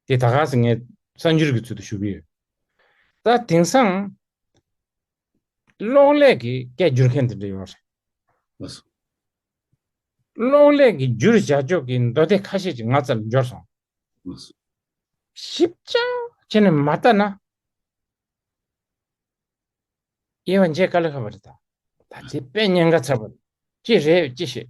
དེ་ད་ག་ཟེ་ངས་གསར་འགྱུར་གྱི་ཚུལ་དུ་ཞུ་གི་ཡོད། ད་དེང་སང། གློག་ཀླད་ཀྱི་སྐད་བསྒྱུར་མཁན་དེ་འདྲ་ཡོད་རེད། མ་སོང། གློག་ཀླད་ཀྱི་བསྒྱུར་བྱ་ཕྱོགས་ཀྱི་མདོ་སྡེ་ཁ་ཤས་ཅིག་ང་ཚ་ལ་འབྱོར་སོང། མ་སོང། ཞིབ་ཅིང་བྱས་ནས་མ་བལྟ་ན། དབྱེ་བ་འབྱེད་ག་ལ་ཁ་བ་རེད་ད། ད་ཚེ་དཔེ་རྙེད་འགའ་ཚར་བ་རེད། ཅི་རེད་ཅི་བྱེད།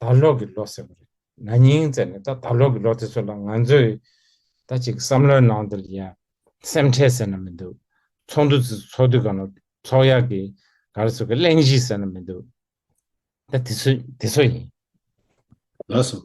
ད་ལོག་གི་ལོ་ཟེར་བ་རེད། ན་ནིང་ཟེར་ནས་ད་ད་ལོག་གི་ལོ་དེ་ཚོ་ལ་ང་ཚོས་ད་ཅིག་བསམ་བློའི་ནང་དུ་ལ་ཡང་སེམས་ཁྲལ་ཟེར་ན་མི་འདུག་ཚོགས་འདུ་དེ་ཚོ་ཚོགས་དུས་གང་རུང་ཚོགས་ཡག་གི་ག་རེ་ཟེར་གི་གླེང་གཞི་ཟེར་ན་མི་འདུག་ད་དེ་ཚོ་དེ་ཚོ་ཡིན། ལགས་སོ།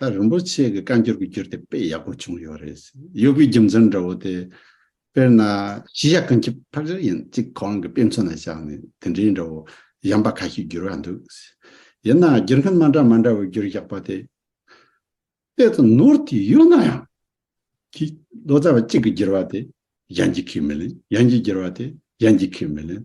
ད་རིན་པོ་ཆེ་གི་བཀའ་འགྱུར་གྱི་འགྱུར་དེ་དཔེ་ཡག་པོ་བྱུང་ཡོད་རེད། གཡོ་སྒྱུའི་རྒྱུ་མཚན་འདྲ་བོ་དེ། དཔེར་ན། གཞི་ཡག་གང་ཁྱབ་ཕར་ཆེར་ཡིན་གཅིག་གོ་རང་གི་དཔེ་མཚོན་ལ་བཞག་ནས་དེ་འདྲའི་འདྲ་བོ་གཞན་པ་ཁ་ཤས་བསྒྱུར་བ་འདུག། ཡིན་ནའང་བསྒྱུར་མཁན་མ་འདྲ་མ་འདྲ་བས་འགྱུར་ཡག་པོ་དེ། དཔེ་དང་ནོར་དེ་ཡོད་ན་ཡང། ཀྱི། ལོ་ཙཱ་བ་གཅིག་གིས་བསྒྱུར་བ་དེ་གཞན་གཅིག་གིས་མི་ལེན། གཞན་གྱིས་བསྒྱུར་བ་དེ་གཞན་གཅིག་གིས་མི་ལེན།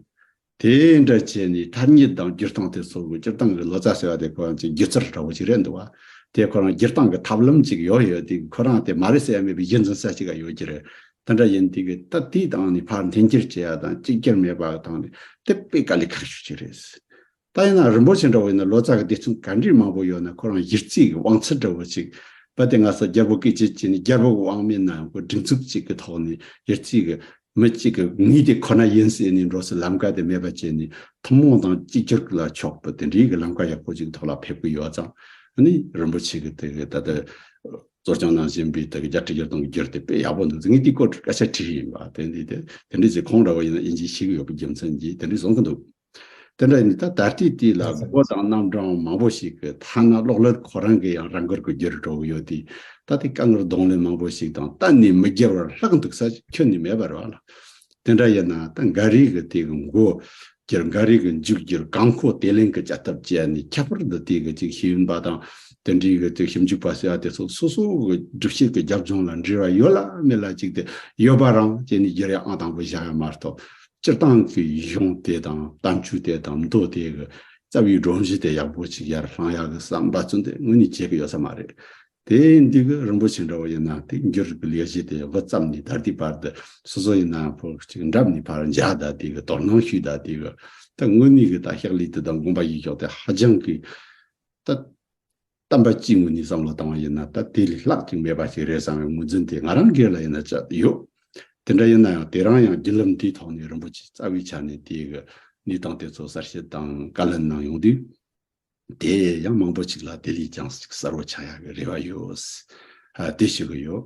དེ་འདྲ་བྱས་ནས་མཐར་ཉིད་དང་སྒྱུར་སྟངས་དེ་ཚོ་གི་སྤྱིར་བཏང་གི་ལོ་ཙཱ་ཟེར་བ་དེ་ཁོ་རང་ཚོའི་སྒྱུ་རྩལ་འདྲ་བོ་ཞིག་རེད་འདུག་བ། དེ་ཁོ་རང་སྒྱུར་སྟངས་ཀྱི་ཐབས་ལམ་ཅིག་ཡོད་ཡོད་དེ་གི་ཁོ་རང་དེ་མ་རེད་ཟེར་ཡ་མེད་པའི་གཞི་འཛིན་ས་ཅིག་ག་ཡོད་ཀྱི་རེད། དེ་འདྲ་ཡིན་དེ་གི་ད་དུས་དང་ནི་ཕར་འཐེན་འཁྱེར་བྱེད་ཡ་དང་གཅིག་གྱུར་མེད་པ་དང་ནི་དེ་དཔེ་ག་ལས་ཁག་ཤོས་ཅིག་རེད། ད་ཡིན་ན་རིན་པོ་ཆེ་འདྲ་བོ་ཡིན་ན་ལོ་ཙཱ་གི་སྡེ་ཚན་ག་འདྲིས་མང་པོ་ཡོད་ན་ཁོ་རང་གཞིར་རྩིས་ཀྱི་བང་ཚད་འདྲ་བོ་ཅིག་བ་དེ་ང་ས་རྒྱལ་པོ་སྐད་ཆེ་ཅིག་ནི་རྒྱལ་པོ་གི་བང་མི་ནང་གི་སྒྲིག་འཛུགས་ཅིག་གི་ཐོག་ནས་གཞིར་རྩིས་ཀྱི་མི་གཅིག་གི་ངོས་དེ་ཁོ་ན་ཡིན་ཟེར་ནས་འགྲོ་སའི་ལམ་ཀ་དེ་མེད་པ་བྱས་ནས་ཐུན་མོང་དང་གཅིག་གྱུར་ལ་ཕྱོགས་པའི་དེ་འདྲིའི་གི་ལམ་ཀ་ཡག་པོ་ཅིག་གི་ཐོག་ལ་ཕེབས་ཀྱི་ཡོད་ཙང་ནི་རིན་པོ་ཆེ་གི་དེ་གི་ད་ལྟ་གཙོ་སྐྱོང་གནང་བཞིན་པའི་དེ་གི་བརྒྱ་ཁྲི་བརྒྱ་སྟོང་གི་རྒྱུར་དེ་དཔེ་ཡག་པོ་འདུག་ཟེར་ངས་དེའི་སྐོར་སྐད་ཆ་དྲིས་ཡིན་པ་དེ་འདི་དེ་དེ་འདྲིས་ཟེར་ཁོང་འདྲ་བོ་ཡིན་ན་ཨིན་ཇིའི་ཤེས་ཀྱི་ཡོད་པའི་རྒྱུ་མཚན་གྱིས་དེ་འདྲིས་བཟུང་གི་འདུག། དེ་འདྲ་ཡིན་ད་ད་ལྟའི་དུས་ལ་མགོ་བོ་དང་རྣམ་གྲངས་མང་པོ་ཞིག་གི་ཐ་ན་གློག་ཀླད་ཁོ་རང་གི་ཡང་རང་དགར་གུ་གྱུར་འགྲོ་གི་ཡོད་དུས་ད་ལྟའི་དཀའ་ངལ་གདོང་ལེན་མང་པོ་ཞིག་དང་གཏན་ནས་མི་བསྒྱུར་བར་ལྷག་འདུག་ས་ཁྱོན་ནས་མེད་པར་བ་ལ། དེ་འདྲ་ཡིན་ན་ད་འགའ་རེས་གི་དེ་གི་འགོ་བསྒྱུར་འགའ་རེས་གི་མཇུག་བསྒྱུར་གང་མཁོ་དེ་ལེན་གི་བྱ་ཐབས་སྤྱད་ནས་ཁྱད་པར་དུ་དེ་གི་ཅིག་ཤོས་ཡིན་པ་དང་དེ་འདྲའི་གི་དེ་ཞིབ་འཇུག་པ་ཟེར་བ་དེ་ཚོ་སོ་སོ་གི་སྒྲུབ་བྱེད་གི་རྒྱབ་ལྗོངས་ལ་འབྲེལ་བ་ཡོད་ལ་མེད་ལ་ཅིག་དེ་ཡོད་པ་རང་བྱས་ནས་བསྒྱུར་ཡ་ཨང་དང་པོ་བཞག་ཡ་མ་གཏོགས། སྤྱིར་བཏང་གི་ཡིག་གཞུང་དེ་དང་གཏམ་རྒྱུད་དེ་དང་མདོ་དེ་གི་རྩ་བའི་སྒྲོམ་གཞི་དེ་ཡག་པོ་གཅིག་ཡར་བསླངས་ཡག་གི་བསམ་པ་ཚུན་དེ་ངོས་ནས་བྱེད་ཀྱི་ཡོད་ས་མ་རེད། དེ་འདི་གི་རིན་པོ་ཆེ་འདྲ་བོ་ཡིན་ན་དེ་འགྱུར་རིགས་ཀྱི་ལས་གཞི་དེ་དབུ་བརྩམས་ནས་ད་ལྟའི་བར་དུ་སོ་སོ་ཡིན་ན་བུ་གཅིག་འགྲམ་ནས་བར་འཇགས་ད་ལྟའི་གི་དོར་སྣང་ཞུས་ད་ལྟའི་གི་ད་དངོས་གནས་གི་ད་ཤག་ལས་དེ་དང་དགོངས་པ་ཡིག་གཞོག་དེ་ཧ་ཅང་གི་ད། གཏམ་པ་གཅིག་ངོས་ནས་བསམ་བློ་བཏང་བ་ཡིན་ན་ད་དེ་ལས་ལྷག་ཅིག་མེད་པ་ཞིག་རེད་བསམ་བའི་ངོས་འཛིན་དེ་ང་རང་སྒེར་ལ་ཡིན་ན་ཅི་ཡོད། དེ་འདྲ་ཡིན་ན་ཡང་དེ་རང་ཡང་བརྒྱུད་ལམ་དེའི་ཐོག་ནས་རིན་པོ་ཆེས་རྩ་བའི་ཆ་ནས་དེ་གའི་གནས་སྟངས་དེ་ཚོ་གསར་བཤད་དང་བཀའ་ལན་གནང་ཡོང་དུས། དེ་ཡང་མང་པོ་ཞིག་ལ་དེ་ལས་ཀྱང་གསར་བོ་ཆགས་ཡག་གི་རེ་བ་ཡོད། དེ་ཞུ་གི་ཡོད།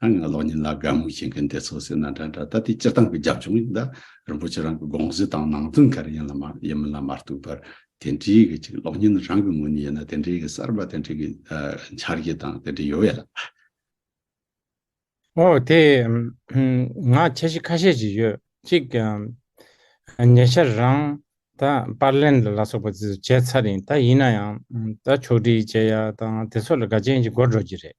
ཨ་ང་གློག་བརྙན་ལ་དགའ་མོས་བྱེད་མཁན་དེ་ཚོ་སེམས་ན་འདྲ་འདྲ་ད་དེ་སྤྱིར་བཏང་གི་རྒྱབ་ལྗོངས་ཡིན་ད། རིན་པོ་ཆེ་རང་གི་དགོངས་གཞི་དང་ནང་དོན་ག་རེ་ཡིན་ལ་མ་ཡིན་མིན་ལ་མ་ལྟོས་པར་དེ་འདྲའི་གི་ཅིག་གློག་བརྙན་རང་གི་ངོས་ནས་ཡིན་ན་དེ་འདྲའི་གི་གསར་པ་དེ་འདྲའི་གི་འཆར་གཞི་དང་དེ་འདྲའི་ཡོད་ཡ་ལ། འོ་དེ་ང་འཆར་གཞི་ཁ་ཤས་ཅིག་ཡོད་གཅིག་ཉེ་ཆར་རང་ད་པར་ལེན་ལ་སོགས་པ་དེ་ཚོ་བྱས་ཚར་ཡིན་ད་ཡིན་ན་ཡང་ད་ཕྱོགས་བསྒྲིགས་བྱས་ཡ་དང་དེ་ཚོ་ལ་དགའ་ཅན་ཅིག་འགོར་འགྲོ་གི་རེད།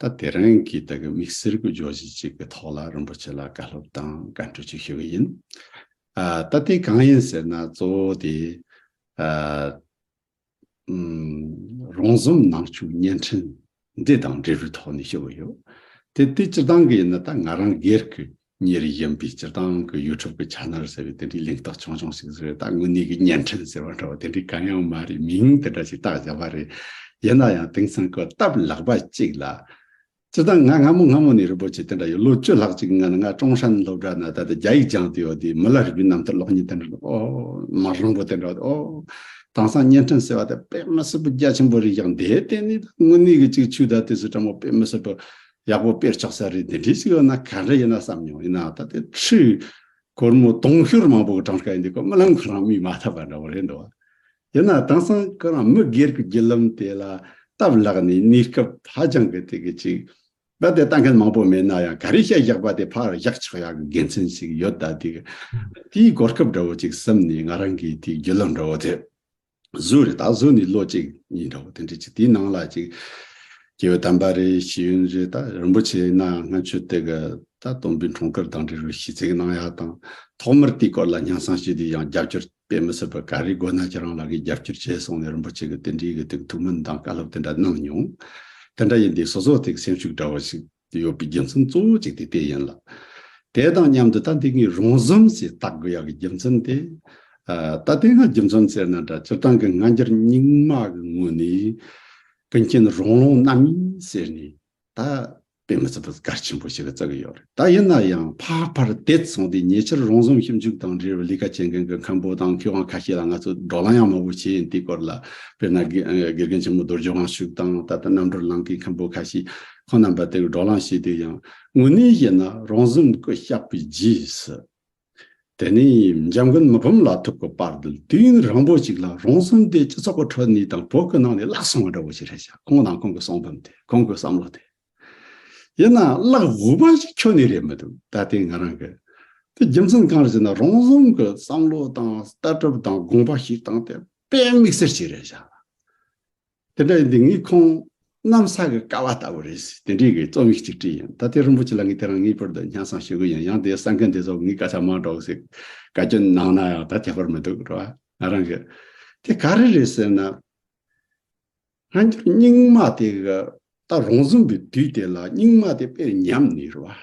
ད་དེ་རིང་གི་དག་གི་མིག་སེར་གྱི་རྗོ་བྱེད་ཅིག་གི་ཐོག་ལ་རིན་པོ་ཆེ་ལ་བཀའ་སློབ་དང་བཀའ་འཁྲོལ་ཅིག་ཞུ་གི་ཡིན། ད་དེ་གང་ཡིན་ཟེར་ན་གཙོ་བོ་དེ། རོང་ཟོམ་ནང་ཆོས་བརྙན་འཕྲིན་འདི་དང་འབྲེལ་བའི་ཐོག་ནས་ཞུ་གི་ཡོད། དེ་དེ་སྤྱིར་བཏང་གི་ཡིན་ན་ད་ང་རང་སྒེར་གྱི་གཉེར་བཞིན་པའི་སྤྱིར་བཏང་གི་ཡུལ་འཁྲབ་ཀྱི་ཆ་ནོར་ཟེར་བའི་དེ་འདྲའི་ལེགས་རྟགས་ཆུང་ཆུང་ཞིག་ཟེར་བའི་ད་དངོས་གནས་ཀྱི་བརྙན་འཕྲིན་ཟེར་བ་འདྲ་བ་དེ་འདྲའི་གང་ཡང་མ་རེད་མིང་དེ་འདྲ་ཞིག་བཏགས་བཞག་པ་རེད། ཡིན་ན་ཡང་དེང་སང་གི་སྟབས་ལེགས་པ་ཅིག་ལ། སྤྱིར་བཏང་ང་སྔ་མོ་སྔ་མོ་ནས་རི་པོ་ཆེ་དེ་འདྲ་ཡོད་ལོ་བཅུ་ལྷག་ཅིག་སྔོན་ང་ཀྲོང་ཧྲན་སློབ་གྲྭ་ན་ད་ལྟ་རྒྱ་ཡིག་སྦྱངས་དུས་ཡོད་དུས་མི་ལ་རི་བོའི་གནམ་མཐའི་གློག་བརྙན་དེ་འདྲ་འོ། མ་རིང་པོ་དེ་འདྲ་འོ། དེང་སང་བརྙན་འཕྲིན་ཟེར་བ་དེ་དཔེ་མི་སྲིད་པོ་རྒྱ་ཆེན་པོ་རིགས་ཀྱང་འདེད་དེ་ནི་ད་དངོས་གནས་ཀྱི་ཅིག་ཆུའི་ཟླ་དུས་སུ་ཀྲང་མོ་དཔེ་མི་སྲིད་པོ། ཡག་པོ་དཔེར་ཆགས་ས་རེད་དེ་འདྲས་ཅིག་ཡོད་ན་ག་འདྲ་ཡིན་ན་བསམ་མྱོང་ཡིན་ནའང་ད་ལྟའི་ཁྲི། གོར་མོ་དུང་ཤོར་མང་པོ་གི་གྲངས་ཀ་ཡིན་དུས་ཀ་རྨི་ལམ་ཁོ་རང་རྨིས་མ་ཐག་པ་འདྲ་བོ་རེད་འདུག་ཡིན་ན་དེང་སང་ཁོ་རང་མི་སྒེར་གི་བརྒྱུད་ལམ་དེ་ལ་སྟབས་ལེགས་ནས་གནས་སྐབས་ཧ་ཅང་གི་དེ་གི་ཅིག་རྦད་དེ་ལྟ་མཁན་མང་པོ་མེད་ན་ཡང་ག་རེ་བཤད་བཞག་པ་དེ་ཕར་བཞག་ཆགས་ཡག་གི་དགེ་མཚན་ཞིག་ཡོད་ད་དེ་གི་དེའི་གོ་སྐབས་འདྲ་བོ་ཅིག་བསམ་ནས་ང་རང་གི་དེའི་བརྒྱུད་ལམ་འདྲ་བོ་དེ། གཟུགས་རེད་ད་གཟུགས་ནི་བློ་གཅིག་ཡིན་འདྲ་བོ་དེ་འདྲ་ཅིག་དེའི་ནང་ལ་ཅིག། རྒྱལ་བའི་དམ་པ་རེད་ཤེས་ཡོན་རེད་ད་རིན་པོ་ཆེ་ནང་སྔ་ཆོས་དེ་ག་ད་སྟོང་པའི་འཁྲུངས་སྐར་དང་འབྲེལ་བའི་ཤིས་ཚིག་གནང་ཡག་དང། ཐོག་མར་དེའི་སྐོར་ལ་སྙན་གསང་ཞུས་དུས་ཡང་རྒྱབ་སྐྱོར་དཔེ་མི་སྲིད་པར་ག་རེའི་དགོས་ན་ཁྱེད་རང་ལ་གིས་རྒྱབ་སྐྱོར་བྱེད་གསུངས་ནས་རིན་པོ་ཆེ་གིས་དེ་འདྲའི་གི་དེ་གི་ཐུགས་སྨོན་དང་བཀའ་སློབ་དེ་འདྲ་གནང་མྱོང། དེ་འདྲ་ཡིན་དུས་སོ་སོ་དེ་གི་སེམས་ཤུགས་འདྲ་བོ་ཞིག་ཡོད་པའི་རྒྱུ་མཚན་གཙོ་བོ་གཅིག་དེ་དེ་ཡིན་ལ། དེ་དང་མཉམ་དུ་ད་ལྟའི་ངའི་རང་བཟོའམ་ཞེས་བཏགས་དགོས་ཡག་གི་རྒྱུ་མཚན་དེ། ད་ལྟའི་ང་རྒྱུ་མཚན་ཟེར་ན་འདྲ་སྤྱིར་བཏང་གི་ང་འགྱུར་རྙིང་མ་གི་ངོས་ནས། ཀུན་མཁྱེན་རོང་ལོང་རྣམ་གཉིས་ཟེར་ནས་ད་དཔེ་མི་སྲིད་པར་སྐར་ཆེན་པོ་ཞིག་ལ་བརྩི་གི་ཡོད་རེད་ད་ཡིན་ན་ཡང་ཕ་ཕར་དེད་སོང་སྟེ་ཉེ་ཆར་རང་བཟོའམ་ཞིབ་འཇུག་དང་འབྲེལ་བའི་ལས་ཀ་བྱེད་མཁན་གྱི་མཁན་པོ་དང་མཁས་དབང་ཁ་ཤས་ལ་ང་ཚོས་བགྲོ་གླང་ཡང་མང་བོ་བྱས་ཡིན་དེའི་སྐོར་ལ་དཔེར་ན་དགེ་རྒན་ཆེན་མོ་རྡོ་རྗེ་དབང་ཕྱུག་དང་ད་ལྟ་རྣམ་གྲོལ་ལངས་མཁན་མཁན་པོ་ཁ་ཤས། ཁོང་རྣམས་པ་དེ་གི་སྒྲོག་ལང་ཞིག་དེ་ཡང་དངོས་གནས་ཡིན་ན་རང་གཟིམ་སྐུ་བཤགས་པའི་རྗེས་སུ། དེ་ནས་འཇམ་མགོན་མི་བུམ་ལ་ཐུག་གི་པར་དུ་དུས་རིང་པོ་ཞིག་ལ་རང་གཟིམ་དེ་སྤྱི་ཚོགས་ཀི་ཁྲོད་ནས་དང་བོ་ཀི་ནང་ནས་བརླག་སོང་བ་འདྲ་བོ་ཞིག་རེད་ཤག་ཁོང་དང་ཁོང་གི་གསང་འབུམ་དེ་ཁོང་གི་བསམ་བློ་དེ། ཡིན་ན་བརླག་དགོས་པ་ཞིག་ཁྱོན་ནས་རེད་མི་འདུག་ད་ལྟའི་ང་རང་གི་དེ་རྒྱུ་མཚན་གང་རེད་ཟེར་ན་རང་གཟིམ་གི་བསམ་བློ་དང་ལྟ་གྲུབ་དང་དགོངས་པ་ཞིག་དང་དེ་དཔེ་དམིགས་བསལ་ཞིག་རེད་ཤག། དེ་འདྲ་ཡིན་དུས་ངའི་ཁོང་གནམ་ས་གི་ཀ་བ་ལྟ་བུ་རེད་ཟེར་དེ་འདྲའི་གི་རྩོམ་ཡིག་ཅིག་བྲིས་ཡིན་ད་ལྟའི་རིན་པོ་ཆེ་ལགས་ངས་དེ་རང་ངེས་པར་དུ་སྙན་གསང་ཞུ་གི་ཡིན་ཡང་དེ་ས་མཁན་དེ་ཚོ་ངའི་སྐད་ཆ་མང་དྲགས་ཟིག་བཀའ་བཀྱོན་གནང་ན་ཡང་ད་དེ་བར་མི་འདུག་རེད་ང་རང་གི་དེ་ག་རེ་རེད་ཟེར་ན། སྔ་འགྱུར་རྙིང་མ་དེ་གི་ད་རོང་བཟུང་གི་དུས་དེ་ལ་རྙིང་མ་དེ་དཔེར་ཉམས་ནས་རེད།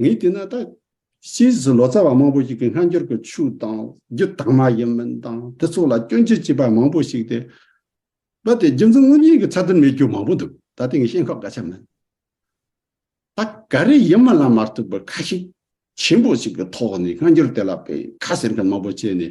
ངས་བལྟས་ན་ད་ཕྱིས་སུ་ལོ་ཙཱ་བ་མང་པོ་ཞིག་གིས་སྔ་འགྱུར་གྱི་ཆོས་དང་རྒྱུད་དག་མ་ཡིན་མིན་དང་དེ་ཚོ་ལ་སྐྱོན་བརྗོད་བྱེད་པ་མང་པོ་ཞིག་སྟེ། རྦད་དེ་རྒྱུ་མཚན་དངོས་གཉིས་ཀྱི་ཚད་དོན་མེད་རྒྱུ་མང་པོ་འདུག་ད་དེང་བཤད་ཁག་ག་ཆ་མིན། ད་ག་རེ་ཡིན་མིན་ལ་མ་ལྟོས་པར་ཁ་ཞེ་ཆེན་པོ་ཞིག་གི་ཐོག་ནས་སྔ་འགྱུར་དེ་ལ་བས་ཁ་ཟེར་མཁན་མང་པོ་བྱས་ནས་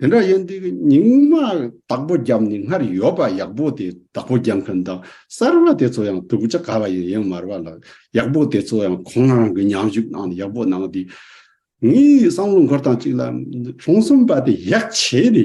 དེ་འདྲ་ཡིན་དུས་རྙིང་མ་བདག་པོ་རྒྱབ་ནས་སྔར་ཡོད་པ་ཡག་པོ་དེ་བདག་པོ་རྒྱག་མཁན་དང་གསར་བ་དེ་ཚོ་ཡང་དུག་ཅག་ག་བ་ཡིན་ཡང་མར་བ་ལ་ཡག་པོ་དེ་ཚོ་ཡང་ཁོང་རང་གི་ཉམས་ཞིབ་གནང་ནས་ཡག་པོ་གནང་དུས་ངའི་བསམ་བློ་འཁོར་སྟངས་གཅིག་ལ་ལྷུང་སོམས་པ་དེ་ཡག་བྱས་ཏེ་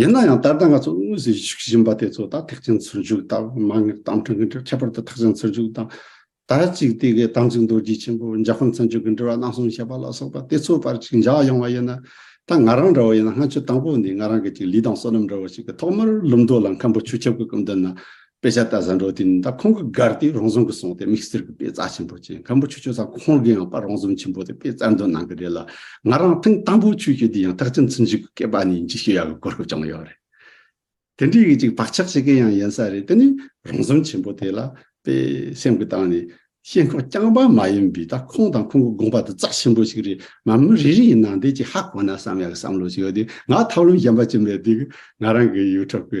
ཡིན་ན་ཡང་ད་ལྟ་ང་ཚོ་དངོས་སུ་བཞུགས་བཞིན་པ་དེ་ཚོ་དང་ཐེག་ཆེན་ཚུར་བཞུགས་དང་མ་ངེས་པའི་གཏམ་འཁྲུལ་གྱི་འབྲེལ་བ་ཁྱད་པར་དུ་ཐེག་ཆེན་ཚུར་བཞུགས་དང་དར་ཅིག་དེ་གའི་དམ་ཚིག་རྡོ་རྗེ་ཆེན་པོ་འཇའ་ཧོན་ཚང་ཆོས་ཀྱི་འབྲེལ་བ་གནང་སོང་ཞེས་པ་ལ་སོགས་པ་དེ་ཚོའི་བར་གཅིག་འཇགས་ཡོང་བ་ཡིན་ན་ད་ང་རང་འདྲ་བ་ཡིན་ན་སྔ་ཆོས་དང་པོ་འདི་ང་རང་གི་ཅིག་ལུས་དང་བསོད་ནམས་འདྲ་བ་ཞིག་གི་ཐོག་མར་ལུམ་མདོ་ལ་མཁན་པོ་ཆོས་ཁྱབ་ཀྱི་སྐུ་མདུན་ན་དཔེ་ཆ་ལྟ་བཟའ་འགྲོ་དེ་ནི་ད་ཁོང་གི་སྒར་དེའི་རོང་ཟོམ་གྱི་སོང་སྟེ་དམིགས་བསལ་གྱི་དཔེ་བཙལ་ཆེན་པོ་བྱས་ཁམ་བུ་ཆུ་ཆུ་ས་ཁོང་གི་ཡང་པར་རོང་ཟོམ་ཆེན་པོ་དེ་དཔེ་བཙལ་འདོན་གནང་གི་རེད་ལ་ང་རང་ཐེངས་དང་པོ་ཆུ་ཆུ་དེ་ཡང་ཐག་ཆུ་འཚུབ་འཇུག་གི་སྐེད་པ་ནས་འཇིགས་ཤོས་ཡག་གི་གོ་སྐབས་བྱུང་ཡོད་རེད། དེ་འདྲའི་གི་ཅིག་བག་ཆགས་ཤིག་གི་ཡང་ཡིན་ས་རེད་དེ་ནི་རོང་ཟོམ་ཆེན་པོ་དེ་ལ་དཔེ་སེམས་གི་བཏང་ནས་ཤེས་ཁོག་རྐྱང་པ་མ་ཡིན་པའི་ད་ཁོང་དང་ཁོང་གི་དགོངས་པ་དེ་རྩ་ཆེན་པོ་ཞིག་རེད་མ་མི་རེ་རེ་ཡི་ནང་དེ་ཅིག་ཧ་གོ་ན་བསམ་ཡག་གི་བསམ་བློ་ཞིག་ཡོད་དེ་ང་ཐབས་ལམ་གཞན་པ་ཅི་མེད་དེ་གི་ང་རང་གི་ཡུལ་འཁྲབ་གི་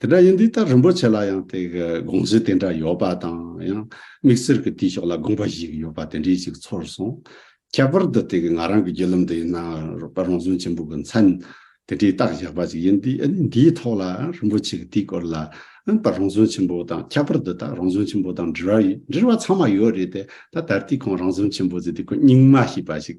དེ་འདྲ་ཡིན་དུས་ད་རིན་པོ་ཆེ་ལ་ཡང་དེ་གི་དགོངས་གཞི་དེ་འདྲ་ཡོད་པ་དང་ཡང་དམིགས་བསལ་གི་དུས་ཕྱོགས་ལ་དགོངས་པ་ཞིག་ཡོད་པ་དེ་འདྲས་ཅིག་ཚོར་སོང། ཁྱད་པར་དུ་དེ་གི་ང་རང་གི་རྒྱུད་ལམ་དུ་ཡིན་ན་རོགས་པ་རང་བྱུང་ཆེན་པོ་གི་མཚན་དེ་འདྲས་བཏགས་བཞག་པ་ཅིག་ཡིན་དུས་ཨ་ནི་འདིའི་ཐོག་ལ་ཡང་རིན་པོ་ཆེ་གི་དེའི་སྐོར་ལ་ཡང་ད་རང་བྱུང་ཆེན་པོ་དང་ཁྱད་པར་དུ་ད་རང་བྱུང་ཆེན་པོ་དང་འབྲེལ་བ་འབྲེལ་བ་ཚང་མ་ཡོད་རེད་དེ་ད་ད་ལྟའི་ཁོང་རང་བྱུང་ཆེན་པོ་ཟེར་དུས་ཁོང་རྙིང་མ་ཞེས་པ་ཞིག་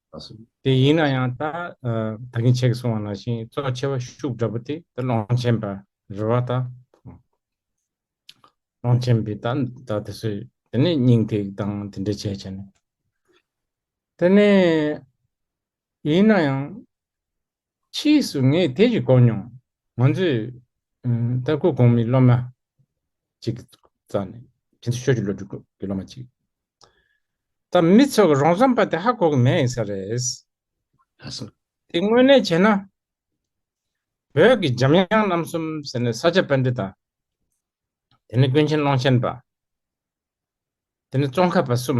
དེ་ཡིན་ན་ཡང་ད་ད་གིན་ཆེ་གི་སོང་བ་ན་ཤིང་བཙོ་ཆེ་བ་ཤུགས་འདྲ་པོ་དེ་ད་ལོང་ཆེན་པ་རི་བ་ད་ལོང་ཆེན་པའི་ད་ད་དེ་སུ་དེ་ནས་སྙིང་ཐིག་དང་དེ་འདྲ་བྱས་བྱས་ནས་དེ་ནས་ཡིན་ན་ཡང་ཕྱིས་སུ་ངས་དེ་ཞིག་གོ་མྱོང། ང་ཚོས། ལྟ་སྐུལ་གོང་མའི་སློབ་མ། ཅིག་བཙལ་ནས། ཕྱི་ཚེས་ཤོག་བཞི་ལོ་དྲུག་གི་སློབ་མ་ཅིག། དང་མི་ཚོགས་ཀྱི་རོང་ཟོམ་པ་དེ་ཧ་གོ་གི་མེད་ས་རེད། ལྷ་ས། དེ་དངོས་གནས་བྱས་ན། བོད་ཀྱི་འཇམ་དབྱངས་རྣམ་གསུམ་ཟེར་ནས་ས་ཆ་དཔལ་འདི་དང། དེ་ནས་ཀུན་མཁྱེན་ཀློང་ཆེན་པ། དེ་ནས་ཙོང་ཁ་པ་གསུམ།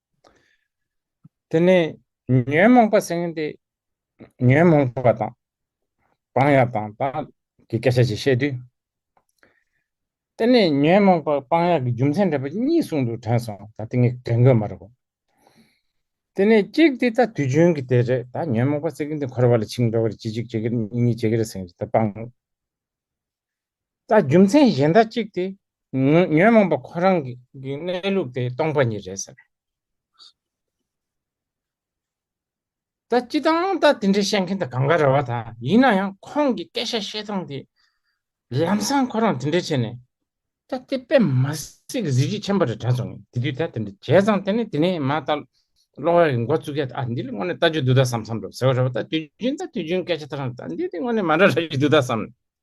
དེ་ནས་ཉོན་མོངས་པ་སེང་གེ། ཉོན་མོངས་པ་དང། སྤང་ཡག་དང་དང་གི་སྐད་ཆ་ཅིག་བཤད་དུས། དེ་ནས་ཉོན་མོངས་པ་སྤང་ཡག་གི་རྒྱུ་མཚན་འགྲེལ་པ་གཉིས་གསུངས་འདུག་དྲན་སོང་ད་དེ་ངས་དྲན་དགོས་མ་རེད་བ། དེ་ནས་གཅིག་དེ་ད་དུས་རྒྱུན་གྱི་དེ་རེད་ད་ཉོན་མོངས་པ་སེང་གེ་འདི་འཁོར་བ་ལ་འཆིང་འགྲོ་གི་རེད་གཅིག་གཅིག་གཅིག་གི་རེད་གཉིས་གཉིས་གཅིག་གི་རེད་སེང་གེ་ད་སྤང། ད་རྒྱུ་མཚན་གཞན་དག་གཅིག་སྟེ། ཉོན་མོངས་པ་ཁོ་རང་གི་གནས་ལུགས་དེ་སྟོང་པ་ཉིད་རེད་ཟེར། ད་སྤྱི་དང་ད་དེ་འདྲའི་བཤད་མཁན་དེ་གང་ག་རེ་བ་དང་ཡིན་ན་ཡང་ཁོང་གི་སྐད་ཆ་བཤད་སྟངས་དེ། ལམ་སང་ཁོ་རང་དེ་འདྲ་བྱས་ནས། ད་དེ་པད་མ་སྲིད་ཀྱི་གཟི་བརྗིད་ཆེན་པོ་རེད་དྲན་སོང་ངས་དེ་དུས་ད་དེ་འདྲ་བྱས་ཙང་དེ་ནས་དེ་ནས་མ་ད་ལོ་ཧོལ་གྱི་འགོ་བཙུགས་ཀྱ་ཨ་འདི་ལ་དངོས་ནས་ལྟ་རྒྱུ་འདུག་ད་བསམ་བསམ་འགྲོ་ཟེར་བ་རེད་བ་ད་དུས་རྒྱུན་ད་དུས་རྒྱུན་སྐད་ཆ་ད་རང་ད་འདི་དེ་དངོས་ནས་མ་འདྲ་ར་རྒྱུ་འདུག་ད་བསམ།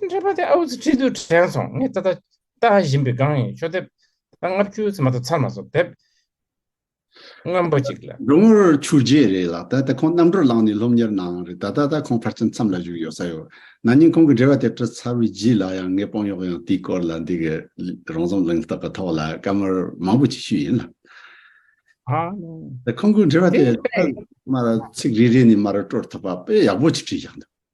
དེ་འདྲ་པ་དེ་ཨའུ་ཚི་ཁྲི་དུ་དྲན་སོང་ངས་ད་ལྟ་ལྟ་བཞིན་པའི་སྒང་ཡིན་ཤོག་དེབ་ལྟ་ལྔ་བཅུ་ཚེ་མ་ཐག་ཚར་མ་སོང་དེབ་རྔམ་པ་ཅིག་ལ། འབྲུག་ངོར་ཆུར་རྗེས་རེད་ལགས་ད་ལྟ་ཁོང་གནམ་གྲུར་ལངས་ནས་སློབ་གཉེར་གནང་རེད་ད་ད་ལྟ་ཁོང་ཕར་ཕྱིན་མཚམས་ལ་བཞུགས་ཡོད་ས་ཡོད་ན་ནིང་ཁོང་གི་འབྲེལ་བ་དེ་དྲི་ཚར་བའི་རྗེས་ལ་ཡང་ངས་དཔང་གཡོག་ཡང་དེའི་སྐོར་ལ་འདི་གའི་རང་རྩོམ་གླེང་སྟབས་པ་ཐོག་ལ་བཀའ་མོལ་མང་པོ་ཅིག་ཞུས་ཡིན་ལགས། ཁོང་གི་འབྲེལ་བ་དེ་ཚར་མ་ར་ཚིག་རེ་རེ་ནས་མ་ར་སྤྲོར་ཐུབ་པ་དཔེ་ཡག་པོ་ཅིག་བྲིས་བཞག་འདུག།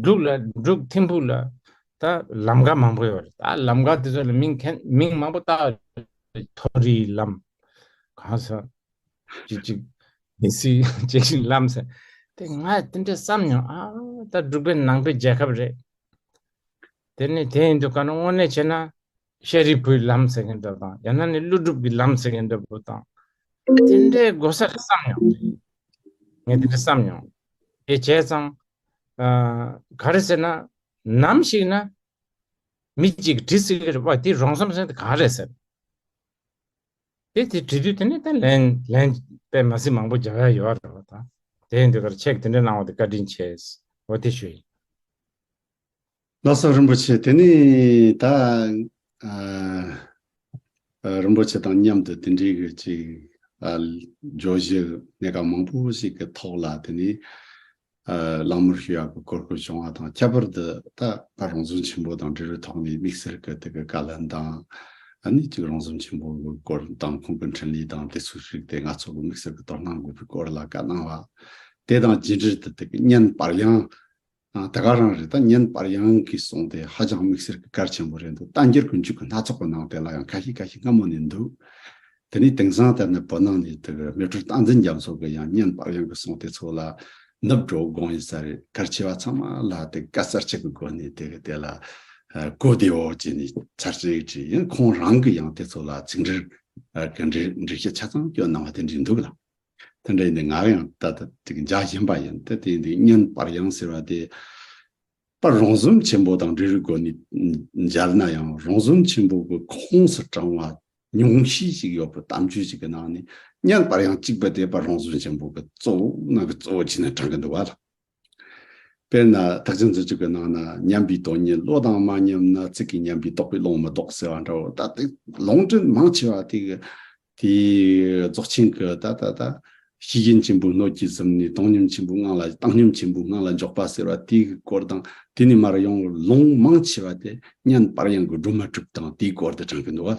འབྲུག་ལ་འབྲུག་ཐིམ་ཕུག་ལ་ད་ལམ་ཁ་མང་པོ་ཡོད་རེད་ད་ལམ་ཁ་དེ་ཚོ་ལ་མིང་ཁན་མིང་མང་པོ་བཏགས་མཐོ་རིའི་ལམ་གང་ས་ཅི་ཅི་མི་སི་ཅི་ཅི་ལམ་ས་དེ་ང་དེ་འདྲ་བསམ་མྱོང་ཨ་ད་འབྲུག་པའི་ནང་པའི་རྒྱལ་ཁབ་རེད་དེ་ནས་དེ་ཡིན་དུ་ག་རུ་དངོས་གནས་བྱས་ན་ཤཱ་རིའི་བུའི་ལམ་ཟེར་མཁན་འདྲ་བོ་དང་ཡང་ན་ནི་ཀླུ་སྒྲུབ་ཀྱི་ལམ་ཟེར་མཁན་འདྲ་བོ་དང། དེ་འདྲའི་དགོ་ས་རེ་བསམ་མྱོང། ངས་དེ་འདྲ་བསམ་མྱོང། དེ་བྱས་ཙང། ག་རེ་ཟེར་ན། ནམ་ཞིག་ན། མི་གཅིག་གིས་དྲི་སྲིད་ཀྱི་བ་དེ་རོང་ཟོམ་ཟེར་དེ་ག་རེ་ཟེར། དེ་དེ་དྲི་དུས་དེ་ནས་ད་ལན་ལན། པད་མ་སྲིན་མང་པོ་རྒྱ་གར་ཡོད་བ་འདྲ་བོ་དང། དེའི་འདི་གར་ཆེག་དེ་འདྲ་གནང་བ་དེ་བཀའ་དྲིན་ཆེ། འོ་དེ་ཞུ་ཡིན། བླ་སྲོག་རིན་པོ་ཆེ་དེ་ནི་ད་རིན་པོ་ཆེ་དང་མཉམ་དུ་དེ་འདྲའི་གི་ཅིག་བརྗོད་གཞི་གནད་འགག་མང་པོ་ཞིག་གི་ཐོག་ལ་དེ་ནི་གླེང་མོལ་ཞུ་ཡག་གི་གོ་སྐབས་བྱུང་བ་དང་ཁྱད་པར་དུ་ད་ད་རང་བྱུང་ཆེན་པོ་དང་འབྲེལ་བའི་ཐོག་ནས་དམིགས་བསལ་གི་དེ་གི་བཀའ་ལན་དང་ནི་ཅིག་རང་བྱུང་ཆེན་པོ་གི་སྐོར་དང་ཁོང་གི་འཕྲིན་ལས་དང་དེ་ཚོ་ཞིག་དེ་ང་ཚོ་གི་དམིགས་བསལ་གི་དོ་སྣང་དགོས་པའི་སྐོར་ལ་བཀའ་གནང་བ་དེ་དང་རྗེས་འབྲེལ་དུ་དེ་གི་བརྙན་དཔར་ཡང་དེ་ག་རང་རེད་ད་བརྙན་དཔར་ཡང་གིས་སོང་སྟེ་ཧ་ཅང་དམིགས་བསལ་གི་གར་ཆེན་པོ་རེད་འདུག་རྟ་འགྱེལ་དགུན་ཆུ་གི་སྣ་ཚོགས་པོ་ནང་དེ་ལ་ཡང་ཁ་ཤིག་ཁ་ཤིག་སྔ་མོ་ནས་འདུག་དེ་ནས་དེང་སང་དེར་ནས་བོད་ནང་ནས་དེ་གི་མེ་དྲོད་སྟངས་འཛིན་རྒྱབ་མཚོ་གི་ཡང་བརྙན་དཔར་ཡང་གིས་སོང་སྟེ་ཚོ་ལ་ནུབ་འགྲོ་དགོངས་ཡིན་ས་རེད་གར་ཆེ་བ་ཚང་མ་ལ་དེ་ག་གསར་བྱེད་གི་སྒོ་ནས་དེ་གི་དེ་ལ་གོ་བདེའོ་བྱས་ནས་འཆར་ཅིག་བྲིས་ཡང་ཁོང་རང་གི་ཡང་དེ་ཚོ་ལ་ཚིག་འབྲི་གི་འབྲི་གཞི་ཆ་ཚང་བསྐྱོན་གནང་བ་དེ་འབྲི་འདུག་ལ། དེ་འདྲ་ཡིན་ཏེ་ངག་ཡང་ལྟ་སྟེ་འཇའ་བཞིན་པ་ཡིན་ཏེ་དེ་ཡིན་ཏེ་སྙན་པར་ཡང་ཟེར་བ་དེ། པར་རོང་ཟོམ་ཆེན་པོ་དང་འབྲི་རུའི་སྒོ་ནས་མཇལ་ན་ཡང་རོང་ཟོམ་ཆེན་པོ་གི་ཁོངས་སུ་བགྲང་བ་ཉུང་ཤས་ཤིག་ཡོད་པར་གཏམ་རྒྱུད་ཅིག་གི་ནང་ནས་སྙན་པར་ཡང་གཅིག་པ་དེ་པར་རོང་ཟོམ་ཆེན་པོ་གི་གཙོ་བོ་ནང་གི་གཙོ་བོ་བྱས་ནས་བགྲང་གིན་འདུག་བ་ལ། དཔེར་ན་བདག་ཅག་འཛིན་བྱེད་པའི་ནང་ན་ཉམས་པའི་དོན་ཉིད་བློ་དང་མ་མཉམ་ན་ཚིག་གིས་ཉམས་པའི་རྟོག་པས་ལོང་མི་རྟོག་ཟེར་བ་འདྲ་བོ་ད་ལྟའི་ལོང་འདྲེན་མང་ཆེ་བ་དེ་གི་དེ་རྫོགས་ཆེན་གི་ད་ད་ད། གཞི་རྒྱན་ཆེན་པོའི་སྣོད་ཀྱིས་གཟིམས་ནས་བཏང་སྙོམས་ཆེན་པོའི་ངང་ལ་བཏང་སྙོམས་ཆེན་པོའི་ངང་ལ་འཇོག་པ་ཟེར་བ་དེ་གི་སྐོར་དང་དེ་ནས་མར་ཡང་ལོང་མང་ཆེ་བ་དེ་བསྙེན་པར་ཡང་གི་སྒྲུབ་མ་གྲུབ་དང་དེའི་སྐོར་དུ་དྲངས་ཀྱི་འདུག་ག།